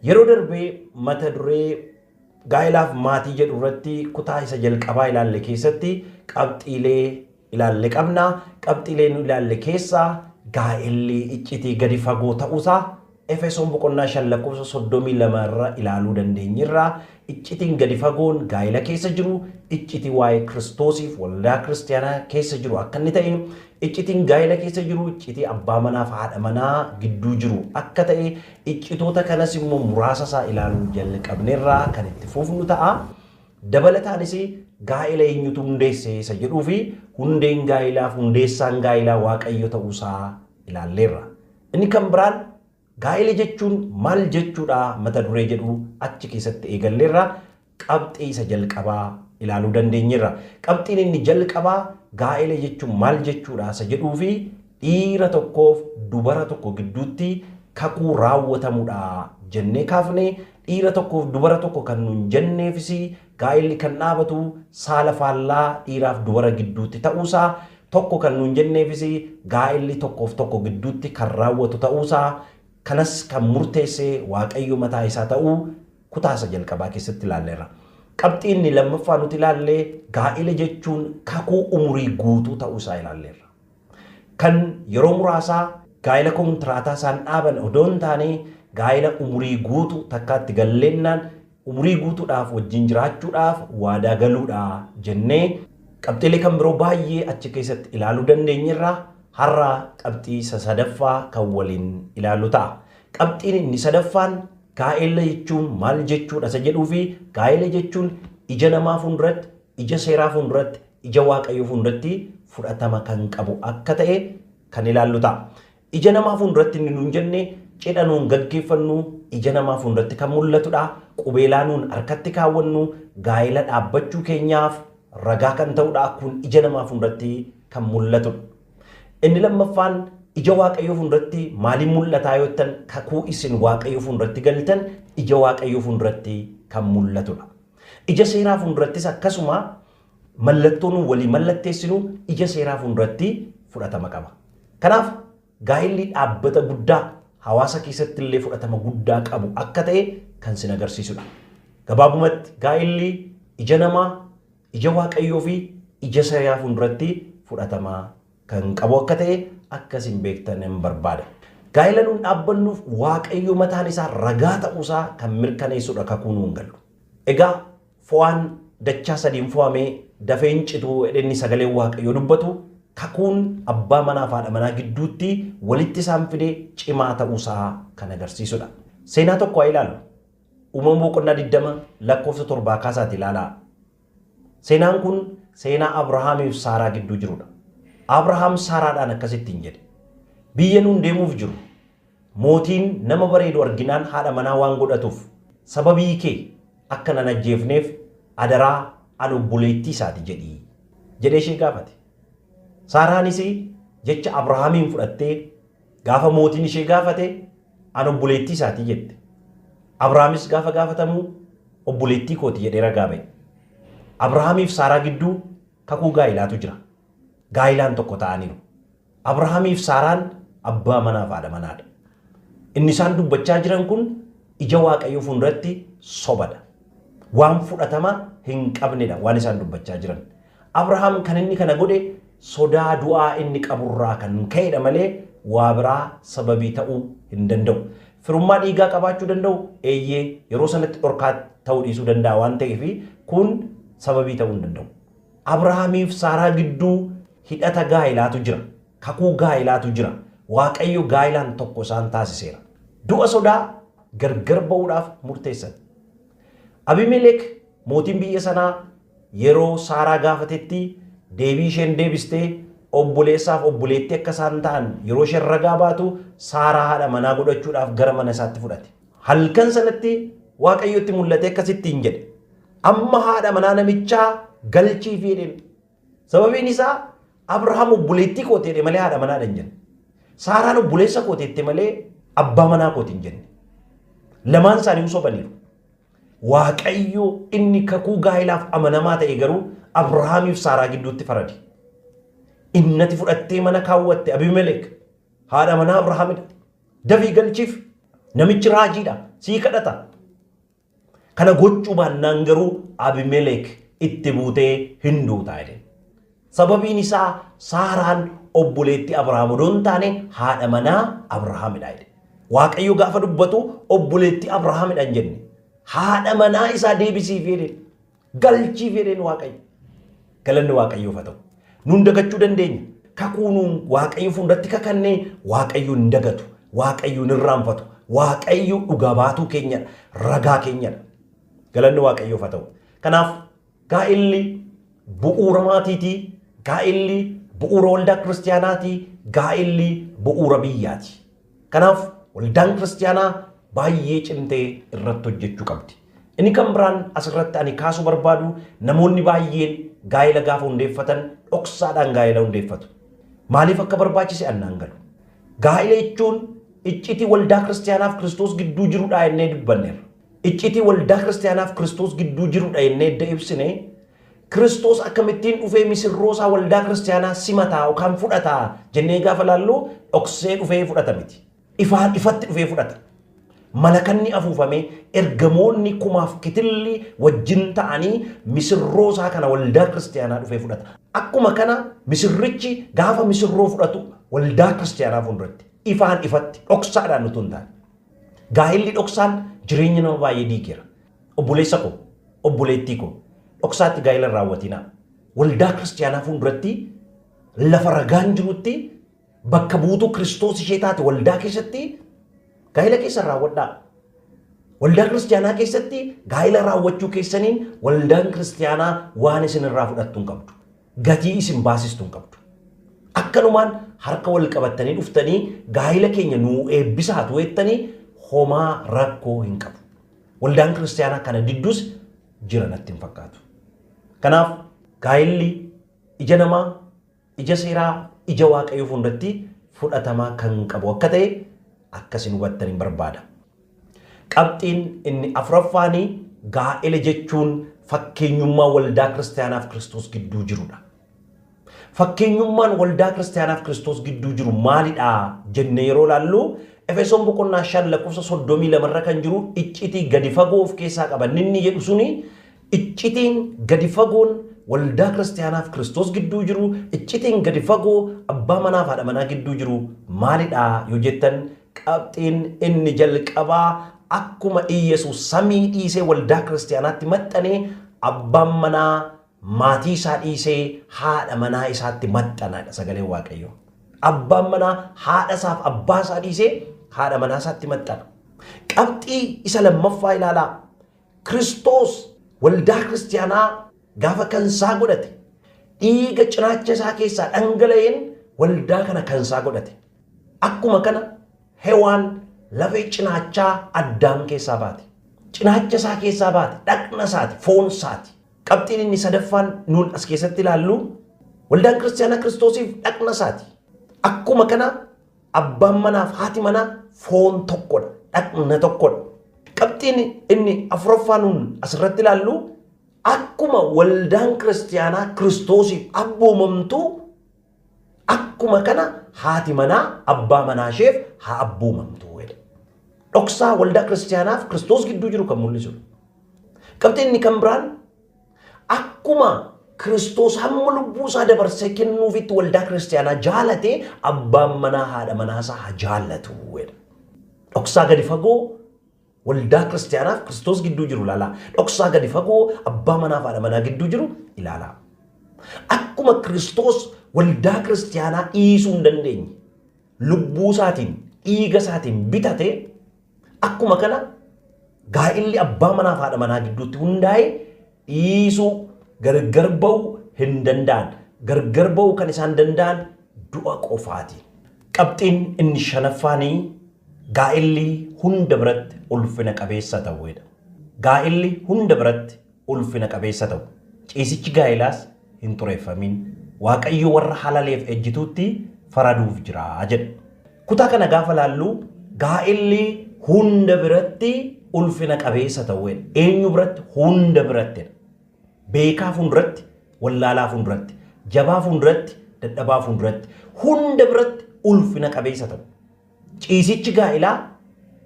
Yeroo darbe mata duree Gaa'elaaf maatii jedhu irratti kutaa isa jalqabaa ilaalle keessatti qabxiilee ilaalle qabna. Qabxiilee nu ilaalle keessaa gaa'elli iccitii gadi fagoo ta'uusaa Efesoon boqonnaa 5 lakkoofsa 32 irra ilaaluu dandeenyerra. Iccitiin gadi fagoon gaa'ela keessa jiru iccitii waa'ee Kiristoosiif waldaa kiristiyaanaa keessa jiru akka inni ta'e Iccitiin gaa'ila keessa jiru iccitii abbaa manaa fi haadha manaa gidduu jiru akka ta'e, iccitoota kanas immoo muraasa isaa ilaaluu jalqabneerra kan itti fufnu ta'a. Dabalataanis gaa'ila eenyutu hundeesse isa jedhuu fi hundeen gaa'ilaa fi hundeessaan gaa'ilaa Waaqayyo ta'uu isaa ilaalleerra. Inni kan biraan Gaa'ela jechuun maal jechuudha mata duree jedhu achi keessatti eegalleerra. Qabxii isa jalqabaa ilaaluu dandeenyeerra. Qabxiin inni jalqabaa gaa'ela jechuun maal jechuudha isa jedhuu fi dhiira tokkoof dubara tokko gidduutti kakuu raawwatamudha jennee kaafne. Dhiira tokkoof dubara tokko kan nuun jenneefis Gaa'illi kan dhaabatu saala faallaa dhiiraaf dubara gidduutti ta'uusaa, tokko kan nuun jenneefis gaa'illi tokkoof tokko gidduutti kan raawwatu ta'uusaa, kanas kan murteesse Waaqayyo mataa isaa ta'uu kutaa isa jalqabaa keessatti ilaalleerra. Qabxii inni lammaffaa nuti ilaalle gaa'ila jechuun kakuu umurii guutuu ta'uu isaa ilaalleerra. Kan yeroo muraasaa gaa'ila kontiraataa isaan dhaaban odoo hin taane gaa'ila umurii guutu takkaa itti galleennaan umurii guutuudhaaf wajjin jiraachuudhaaf waadaa galuudha jennee qabxiilee kan biroo baay'ee achi keessatti ilaaluu dandeenyerra har'a qabxii isa sadaffaa kan waliin ilaallu ta'a. Qabxiin inni sadaffaan gaa'ela jechuun maal jechuudha isa jedhuu fi gaa'ela jechuun ija namaa fuulduratti, ija seeraa fuulduratti, ija waaqayyoo fuulduratti fudhatama kan qabu akka ta'e kan ilaallu ta'a. Ija namaa fuulduratti inni nuun jenne cidha nuun gaggeeffannu, ija namaa fuulduratti kan mul'atudha. Qubeelaa nuun harkatti kaawwannu gaa'ela dhaabbachuu keenyaaf ragaa kan ta'udha. Kun ija namaa fuulduratti kan mul'atudha. Inni lammaffaan ija Waaqayyoo fuulduratti maaliin mul'ataa yoo jettan kakuu isin Waaqayyoo fuulduratti galtan ija Waaqayyoo fuulduratti kan mul'atudha. Ija seeraa fuuldurattis akkasuma mallattoo nuun walii mallatteessinu ija seeraa fuulduratti fudhatama qaba. Kanaaf gaa'illi dhaabbata guddaa hawaasa keessatti illee fudhatama guddaa qabu akka ta'e kan sin agarsiisudha. Gabaabumatti gaa'illi ija namaa, ija Waaqayyoo fi ija seeraa fuulduratti fudhatama kan qabu akka ta'e akka isin beektanan barbaada. Gaa'ila nuun dhaabbannuuf Waaqayyo mataan isaa ragaa ta'uu isaa kan mirkaneessudha kakuu nuun gallu. Egaa Fo'aan dachaa sadiin fo'ame dafee hin citu jedhe inni sagaleen Waaqayyoo dubbatu, kakuun abbaa manaa fi haadha manaa gidduutti walitti isaan fide cimaa ta'uu isaa kan agarsiisu dha. Seenaa tokko haa ilaallu. Uumama boqonnaa 20 lakkoofsa 7 kaasaati ilaalaa. Seenaan kun seenaa Abrahaamii fi Saaraa gidduu jiru dha. Abrahaam Saaraadhaan akkas ittiin jedhe, Biyya nuun deemuuf jirru, Mootiin nama bareedu arginaan haadha manaa waan godhatuuf sababii kee akka nan ajjeefneef adaraa an obboleettii isaati jedhi jedhee ishee gaafate. Saaraanis jecha Abrahaamiin fudhattee gaafa mootiin ishee gaafate an obboleettii isaati jette. Abrahaamis gaafa gaafatamu obboleettii kooti jedhee ragaa ba'e. Abrahaamiif Saaraa gidduu kakuu gaa'ilaatu jira. Gaa'ilaan tokko ta'aniiru. Abrahaamiif Saaraan abbaa manaaf haadha manaadha. Inni isaan dubbachaa jiran kun ija Waaqayyoo fuulduratti sobadha. Waan fudhatama hin qabnedha waan isaan dubbachaa jiran. Abrahaam kan inni kana godhe sodaa du'aa inni qaburraa kan ka'edha malee waa biraa sababii ta'uu hin danda'u. Firummaa dhiigaa qabaachuu danda'u eeyyee yeroo sanatti dhorkaa ta'uu dhiisuu danda'a waan ta'eef kun sababii ta'uu hin danda'u. Abrahaamiif Saaraa gidduu hidhata gaa'ilaatu jira. Kakuu gaa'ilaatu jira. Waaqayyo gaa'ilaan tokko isaan taasiseera. Du'a sodaa gargar ba'uudhaaf murteessan. Abimelek mootiin biyya sanaa yeroo Saaraa gaafatetti deebii isheen deebistee obboleessaaf obboleettii akka isaan ta'an yeroo isheen ragaa baatu Saaraa haadha manaa godhachuudhaaf gara mana isaatti fudhate. Halkan sanatti Waaqayyo itti mul'atee akkas ittiin jedhe. Amma haadha manaa namichaa galchiifi jedheen. Sababiin isaa Abrahaam obboleettii kooti jedhe malee haadha manaadha hin jenne. Saaraan obboleessa kooti jette malee abbaa manaa kooti hin jenne. Lamaan isaanii hin sobaniiru. Waaqayyo inni kakuu gaa'ilaaf amanamaa ta'e garuu Abrahaamiif Saaraa gidduutti farade. Innati fudhattee mana kaawwatte Abimelek haadha manaa Abrahaamidha. Dafii galchiif namichi raajiidha sii kadhata. Kana gochuu baannaan garuu Abimeleek itti buutee hin duutaa jedheen. Sababiin isaa Saaraan obboleetti Abrahaam odoo hin taane haadha manaa Abrahaamidha jedhe. Waaqayyo gaafa dubbatu obboleetti Abrahaamidha hin jenne. Haadha manaa isaa deebisiif jedheen. galchiif jedheen Waaqayyo. Galanni Waaqayyoof haa ta'u. Nuun dagachuu dandeenya. Kakuu nuun Waaqayyo fuulduratti kakannee Waaqayyo hin dagatu. Waaqayyo hin irraanfatu. Waaqayyo dhugaa baatuu keenyadha. Ragaa keenyadha. Galanni Waaqayyoof haa ta'u. Kanaaf gaa'elli bu'uura maatiiti. Gaa'elli bu'uura waldaa kiristiyaanaati. Gaa'elli bu'uura biyyaati. Kanaaf waldaan kiristiyaanaa baay'ee cimtee irratti hojjechuu qabdi. Inni kan biraan asirratti ani kaasuu barbaadu namoonni baay'een gaa'ela gaafa hundeeffatan dhoksaadhaan gaa'ela hundeeffatu. Maaliif akka barbaachise annaan galu. Gaa'ela jechuun iccitii waldaa kiristiyaanaaf Kiristoos gidduu jirudha jennee dubbanneerra. Iccitii waldaa kiristiyaanaaf Kiristoos gidduu jirudha jennee edda ibsine Kiristoos akkamittiin dhufee misirroo isaa waldaa kiristiyaanaa simataa yookaan fudhataa jennee gaafa laallu dhoksee dhufee fudhata miti. Ifaan ifatti dhufee fudhata. Malakanni afuufamee ergamoonni kumaaf kitilli wajjin ta'anii misirroo isaa kana waldaa kiristiyaanaa dhufee fudhata. Akkuma kana misirrichi gaafa misirroo fudhatu waldaa kiristiyaanaa fuulduratti ifaan ifatti dhoksaadhaan utuu hin taane. Gaa'illi dhoksaan jireenya nama baay'ee diigeera. Obboleessa koo, obboleettii koo, dhoksaatti gaa'ila hin raawwatinaa. Waldaa kiristiyaanaa fuulduratti lafa ragaan jirutti bakka buutuu Kiristoos ishee taate waldaa keessatti gaa'ila keessan raawwadhaa. Waldaa kiristiyaanaa keessatti gaa'ila raawwachuu keessaniin waldaan kiristiyaanaa waan isin irraa fudhattu hin qabdu. Gatii isin baasistu hin qabdu. Akkanumaan harka wal qabattanii dhuftanii gaa'ila keenya nuu eebbisaa tu jettanii homaa rakkoo hin qabu. Waldaan kiristaanaa kana didduus jira natti hin fakkaatu. Kanaaf gaa'illi ija namaa, ija seeraa, ija waaqayyoo fuulduratti fudhatamaa kan qabu akka ta'e akkasin hubattan hin barbaada. Qabxiin inni afuraffaanii gaa'ela jechuun fakkeenyummaa waldaa kiristaanaaf kiristoos gidduu jirudha. Fakkeenyummaan waldaa kiristaanaaf Kiristoos gidduu jiru maalidha jennee yeroo ilaallu Efesoon boqonnaa 5 lakkoofsa 32 irra kan jiru iccitii gadi fagoo of keessaa qaba. Inni jedhu suni iccitiin gadi fagoon waldaa kiristaanaaf Kiristoos gidduu jiru iccitiin gadi fagoo abbaa manaaf haadha manaa gidduu jiru maalidha yoo jettan qabxiin inni jalqabaa akkuma Iyyasuus samii dhiisee waldaa kiristaanaatti maxxanee abbaan manaa Maatii isaa dhiisee haadha manaa isaatti maxxanaadha sagaleen waaqayyoo. Abbaan manaa haadha isaaf abbaa isaa dhiisee haadha manaa isaatti maxxana. Qabxii isa lammaffaa ilaalaa. Kiristoos waldaa kiristiyaanaa gaafa kan isaa godhate dhiiga cinaacha isaa keessaa dhangala'een waldaa kana kan isaa godhate. Akkuma kana hewaan lafee cinaachaa addaam keessaa baate. Cinaacha isaa keessaa baate dhaqna isaati foon isaati. Qabxiin inni sadaffaan nuun as keessatti ilaallu waldaan kiristaanaa kiristoosiif dhaqna isaati. Akkuma kana abbaan manaaf haati manaa foon tokkodha, dhaqna tokkodha. Qabxiin inni afuraffaa nuun asirratti ilaallu akkuma waldaan kiristaanaa kiristoosiif abboomamtu Akkuma kana haati manaa abbaa manaa isheef haa abboomamtu jedhe. Dhoksaa waldaa kiristaanaaf Kiristoos gidduu jiru kan mul'isudha. Qabxii inni kan biraan akkuma Kiristoos hamma lubbuu isaa dabarsee kennuufitti waldaa kiristaanaa jaalate abbaan manaa haadha manaa isaa haa jaallatu jedha. Dhoksaa gadi fagoo Waldaa Kiristiyaanaaf Kiristoos gidduu jiru ilaalaa. Dhoksaa gadi fagoo abbaa manaa fi haadha manaa gidduu jiru ilaalaa. Akkuma Kiristoos waldaa Kiristiyaanaa dhiisuu hin dandeenye, lubbuu isaatiin, dhiiga isaatiin bitate, akkuma kana gaa'illi abbaa manaa fi haadha manaa gidduutti hundaa'e dhiisuu, gargar ba'uu hin danda'an. Gargar ba'uu kan isaan danda'an du'a qofaati. Qabxiin inni shanaffaan gaa'illi hunda biratti ulfina qabeessa ta'uudha. Gaa'illi hunda biratti ulfina qabeessa ta'u. Ciisichi gaa'ilaas hin xureeffamin, Waaqayyo warra halaleef ejjituutti faraduuf jira jedha. Kutaa kana gaafa laallu gaa'elli hunda biratti ulfina qabeessa ta'uu jedha. Eenyu biratti? Hunda biratti jedha. Beekaa fuulduratti, wallaalaa fuulduratti, jabaa fuulduratti, dadhabaa fuulduratti, hunda biratti ulfina qabeessa ta'u. Ciisichi gaa'elaa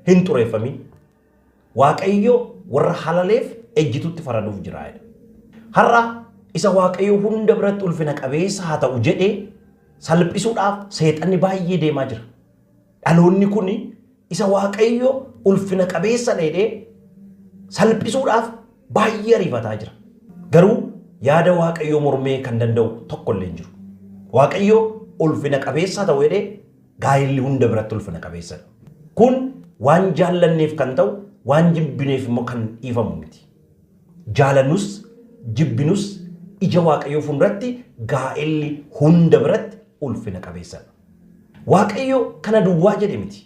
hin xureeffamin. Waaqayyo warra halaleef ejjituutti faraduuf jira jedha. Har'a isa Waaqayyo hunda biratti ulfina qabeessa haa ta'u jedhe salphisuudhaaf seexanni baay'ee deemaa jira. Dhaloonni kun isa Waaqayyo ulfina qabeessa dheedhee salphisuudhaaf baay'ee ariifataa jira. Garuu yaada Waaqayyoo mormee kan danda'u tokko illee hin jiru. Waaqayyo ulfina qabeessa haa ta'u jedhee Gaa'elli hunda biratti ulfina qabeessadha. Kun waan jaallanneef kan ta'u, waan jibbineef immoo kan dhiifamu miti. Jaalannus, jibbinus ija Waaqayyoo fuulduratti gaa'elli hunda biratti ulfina qabeessadha. Waaqayyo kana duwwaa jedhe miti.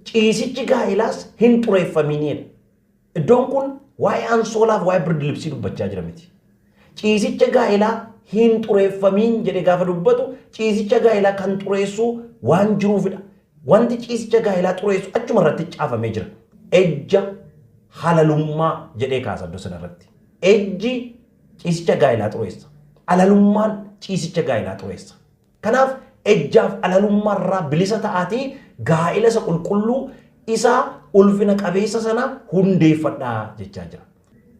Ciisichi gaa'elaas hin xureeffamiinidha. Iddoon kun waa'ee ansoolaaf waa'ee birdilibsii dubbachaa jira miti. Ciisicha gaa'elaa hin xureeffamiin jedhe gaafa dubbatu ciisicha gaa'elaa kan xureessuu waan jiruufidha. Wanti ciisicha gaa'elaa xureessu achuma irratti caafamee jira. Ejja halalummaa jedhee kaasa iddoo sana irratti. Ejji ciisicha gaa'elaa xureessa. Halalummaan ciisicha gaa'elaa xureessa. Kanaaf ejjaaf alalummaa irraa bilisa ta'aatii gaa'ila isa qulqulluu, isa ulfina qabeessa sana hundeeffadhaa jechaa jira.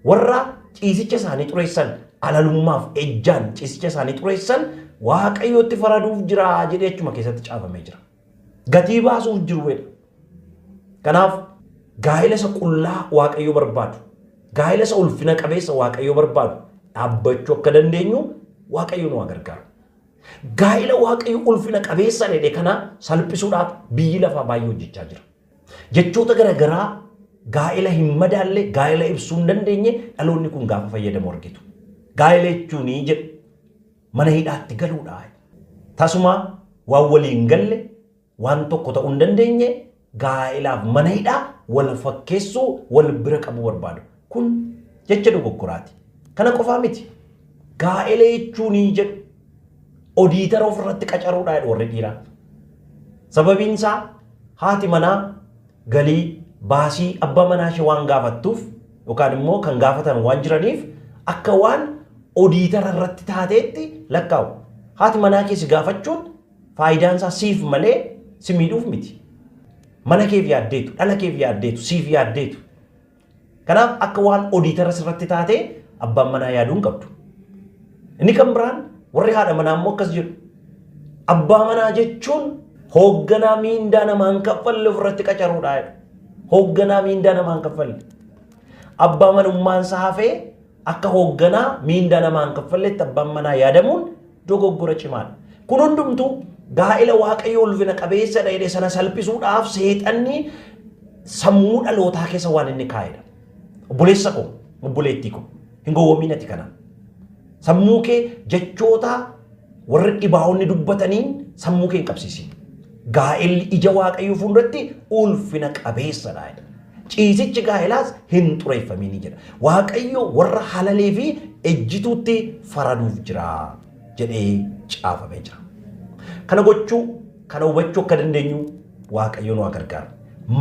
Warra ciisicha isaanii xureessan, alalummaaf, ejjaan ciisicha isaanii xureessan Waaqayyootti faraduuf jira jedhee achuma keessatti caafamee jira. Gatii baasuuf jiru jedha. Kanaaf gaa'ila isa qullaa Waaqayyo barbaadu, gaa'ila isa ulfina qabeessa Waaqayyo barbaadu dhaabbachuu akka dandeenyu Waaqayyo nu haa gargaaru. Gaa'ila Waaqayyo ulfina qabeessaan jedhe kana salphisuudhaaf biyyi lafaa baay'ee hojjechaa jira. Jechoota garaagaraa gaa'ila hin madaalle gaa'ila ibsuu hin dandeenye dhaloonni kun gaafa fayyadamu argitu. Gaa'ila jechuun jedhu mana hidhaatti galuudha. Tasumaa waan walii hin galle Waan tokko ta'uu hin dandeenye gaa'elaaf mana hidhaa wal fakkeessuu wal bira qabuu barbaadu. Kun jecha dogoggoraati. Kana qofaa miti. Gaa'ela jechuun jedhu odiitara ofirratti qacaruudha jedhu warri dhiiraa. Sababiin isaa haati manaa galii baasii abbaa manaa ishee waan gaafattuuf yookaan immoo kan gaafatan waan jiraniif akka waan odiitara irratti taateetti lakkaa'u. Haati manaa kee si gaafachuun Faayidaan isaa siif malee si miidhuuf miti. Mana keef yaaddeetu, dhala keef yaaddeetu, siif yaaddeetu. Kanaaf akka waan odiitara sirratti taatee abbaan manaa yaaduu hin qabdu. Inni kan biraan warri haadha manaa immoo akkas jedhu. Abbaa manaa jechuun hoogganaa miindaa namaan kaffalle ofirratti qacaruudha. Hoogganaa miindaa namaan kaffalle. Abbaa manummaan isaa hafee Akka hoogganaa miindaa namaa hin kaffalletti abbaan manaa yaadamuun dogoggora cimaadha. Kun hundumtuu gaa'ela Waaqayyo ulfina qabeessadha jedhe sana salphisuudhaaf seexanni sammuu dhalootaa keessa waan inni kaa'edha. Obboleessa koo, obboleettii koo, hin gowwoomiin ati kana. Sammuu kee jechoota warri dhibaa'onni dubbataniin sammuu kee hin qabsiisin. Gaa'elli ija Waaqayyoo fuulduratti ulfina qabeessadha jedha. Ciisichi gaa'elaas hin xureeffamiin jedha. Waaqayyo warra halalee fi ejjituutti faraduuf jira jedhee caafamee jira. Kana gochuu, kana hubachuu akka dandeenyu Waaqayyo nu haa gargaaru.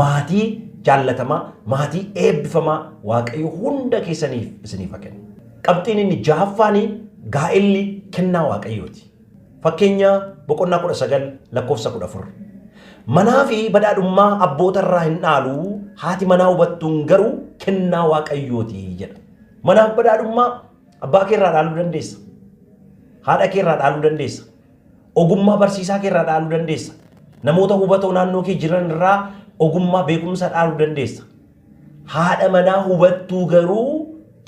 Maatii jaallatamaa, maatii eebbifamaa Waaqayyo hunda keessaniif isiniif haa kennu. Qabxiin inni jahaffaanii gaa'elli kennaa Waaqayyooti. Fakkeenyaa boqonnaa 19 lakkoofsa 14. Manaa fi badhaadhummaa abboota irraa hin dhaalu, haati manaa hubattuun garuu kennaa waaqayyooti jedha. Manaaf badhaadhummaa abbaa kee irraa dhaaluu dandeessa. Haadha kee irraa dhaaluu dandeessa. Ogummaa barsiisaa kee irraa dhaaluu dandeessa. Namoota hubatoo naannoo kee jiran irraa ogummaa beekumsa dhaaluu dandeessa. Haadha manaa hubattuu garuu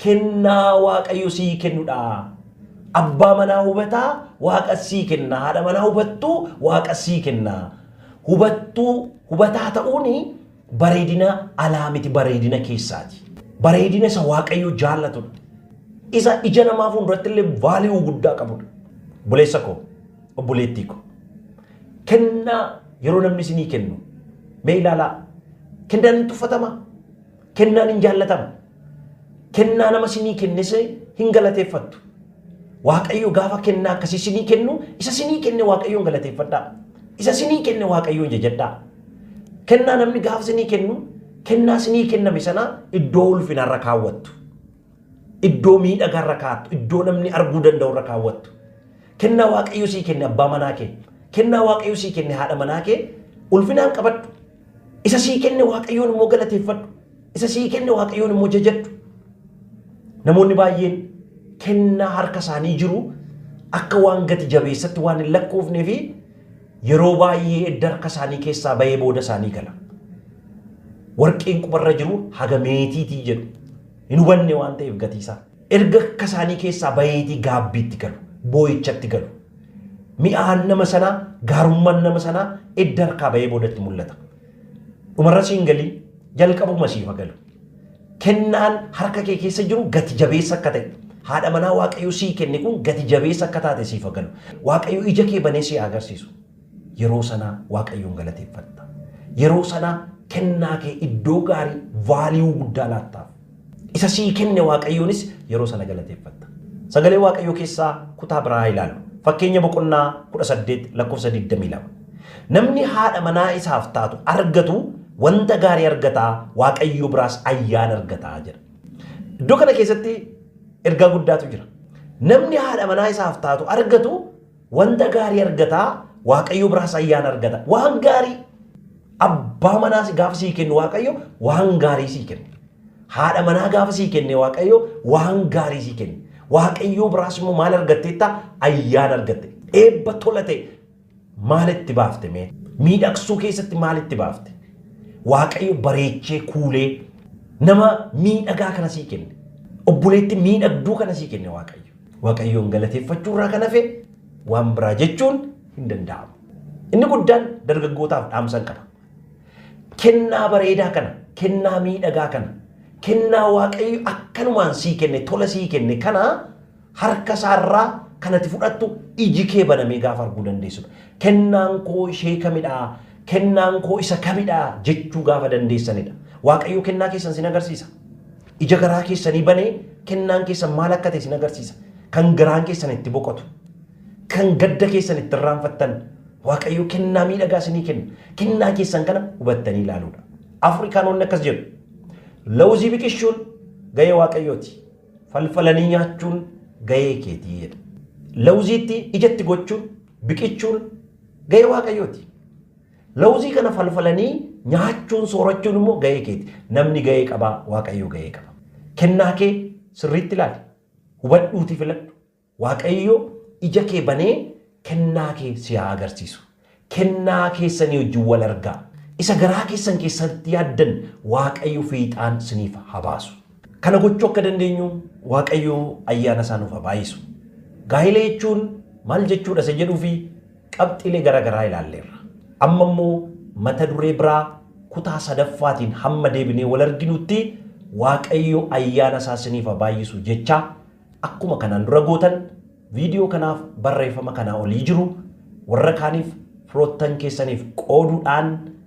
kennaa Waaqayyo sii kennudha. Abbaa manaa hubataa Waaqa sii kenna. Haadha manaa hubattuu Waaqa sii kenna. Hubattuu hubataa ta'uun bareedina alaa miti bareedina keessaati. Bareedina isa Waaqayyo jaallatudha. Isa ija namaa fuulduratti illee vaaliyuu guddaa qabudha. Buleessa koo, obboleettii koo. Kennaa yeroo namni isinii kennu mee ilaalaa. Kennaan hin tuffatamaa? Kennaan hin jaallatama? Kennaa nama isinii kennes hin galateeffattu. Waaqayyo gaafa kennaa akkasii isinii kennu isa isinii kenne Waaqayyoon galateeffadhaa. Isa isinii kenne Waaqayyoon jajadhaa. Kennaa namni gaafa isinii kennu kennaa isinii kenname sana iddoo ulfinaarra kaawwattu. Iddoo miidhagaa irra kaa'attu, iddoo namni arguu danda'u irra kaawwattu. Kennaa Waaqayyo sii kenne abbaa manaa kee, kennaa Waaqayyo sii kenne haadha manaa kee ulfinaan qabadhu. Isa sii kenne Waaqayyoon immoo galateeffadhu. Isa sii kenne Waaqayyoon immoo jajadhu. Namoonni baay'een kennaa harka isaanii jiru akka waan gati jabeessatti waan hin lakkoofnee fi yeroo baay'ee edda harka isaanii keessaa bahee booda isaanii gala. Warqeen qubarra jiru haga meetiitii jedhu. Hin hubanne waan ta'eef gatiisaa. Erga akka isaanii keessaa baheetii gaabbiitti galu, boo'ichatti galu. Mi'aan nama sanaa, gaarummaan nama sanaa edda harkaa bahee boodatti mul'ata. Dhumarra siin galii, jalqabuma siifa galu. Kennaan harka kee keessa jiru gati jabeessa akka ta'e, haadha manaa Waaqayyo sii kenne kun gati jabeessa akka taate siifa galu. Waaqayyo ija kee banee si haa agarsiisu. Yeroo sanaa Waaqayyoon galateeffatta. Yeroo sanaa kennaa kee iddoo gaarii, value, guddaa laattaaf. Isa sii kenne Waaqayyoonis yeroo sana galateeffatta. Sagalee Waaqayyoo keessaa kutaa biraa haa ilaallu. Fakkeenya boqonnaa 18 lakkoofsa 22. Namni haadha manaa isaaf taatu argatu wanta gaarii argata, Waaqayyo biraas ayyaana argata jedha. Iddoo kana keessatti ergaa guddaatu jira. Namni haadha manaa isaaf taatu argatu Wanta gaarii argata, Waaqayyo biraas ayyaana argata. Waan gaarii abbaa manaa si- gaafa sii kennu Waaqayyo waan gaarii sii kenna. Haadha manaa gaafa sii kenne Waaqayyo waan gaarii sii kenna. Waaqayyo biraas immoo maal argatteetta? Ayyaana argatte. Eebba tola ta'e maal itti baafte mee? Miidhagsuu keessatti maal itti baafte? Waaqayyo bareechee kuulee nama miidhagaa kana sii kenne. Obboleetti miidhagduu kana sii kenne Waaqayyo. Waaqayyoon galateeffachuu irraa kan hafe waan biraa jechuun hin danda'amu. Inni guddaan dargaggootaaf dhaamsan qaba. Kennaa bareedaa kana, kennaa miidhagaa kana, kennaa Waaqayyo akkanumaan sii kenne, tola sii kenne kana harka isaarraa kan ati fudhattu iji kee banamee gaafa arguu dandeessudha. Kennaan koo ishee kamidhaa? Kennaan koo isa kamidhaa? jechuu gaafa dandeessanidha. Waaqayyo kennaa keessan sin agarsiisa. Ija garaa keessanii banee kennaan keessan maal akka ta'e isin agarsiisa. Kan garaan keessan itti boqotu. Kan gadda keessan itti irraanfattan. Waaqayyo kennaa miidhagaa isinii kenna. Kennaa keessan kana hubattanii ilaaluudha. Afrikaanonni akkas jedhu. Lawuzii biqilchuun gahee waaqayyooti. Falfalanii nyaachuun gahee keetii jedha. Lawuziitti ijatti gochuun biqilchuun gahee waaqayyooti. Lawuzii kana falfalanii nyaachuun, soorachuun immoo gahee keeti. Namni gahee qaba, Waaqayyoo gahee qaba. Kennaa kee sirriitti ilaali. Hubadhuutii filadhu. Waaqayyo ija kee banee kennaa kee si haa agarsiisu. Kennaa keessanii wajjin wal argaa. Isa garaa keessan keessatti yaaddan Waaqayyo fiixaan siniif haa baasu. Kana gochuu akka dandeenyu Waaqayyo ayyaana isaa nuuf haa baay'isu. Gaa'ela jechuun maal jechuudha isa jedhuu fi Qabxiilee gara garaa ilaalleerra. Amma immoo mata duree biraa kutaa sadaffaatiin hamma deebinee wal arginutti Waaqayyo ayyaana isaa isiniif haa baay'isu jechaa akkuma kanaan dura gootan viidiyoo kanaaf barreeffama kanaa olii jiru warra kaaniif firoottan keessaniif qooduudhaan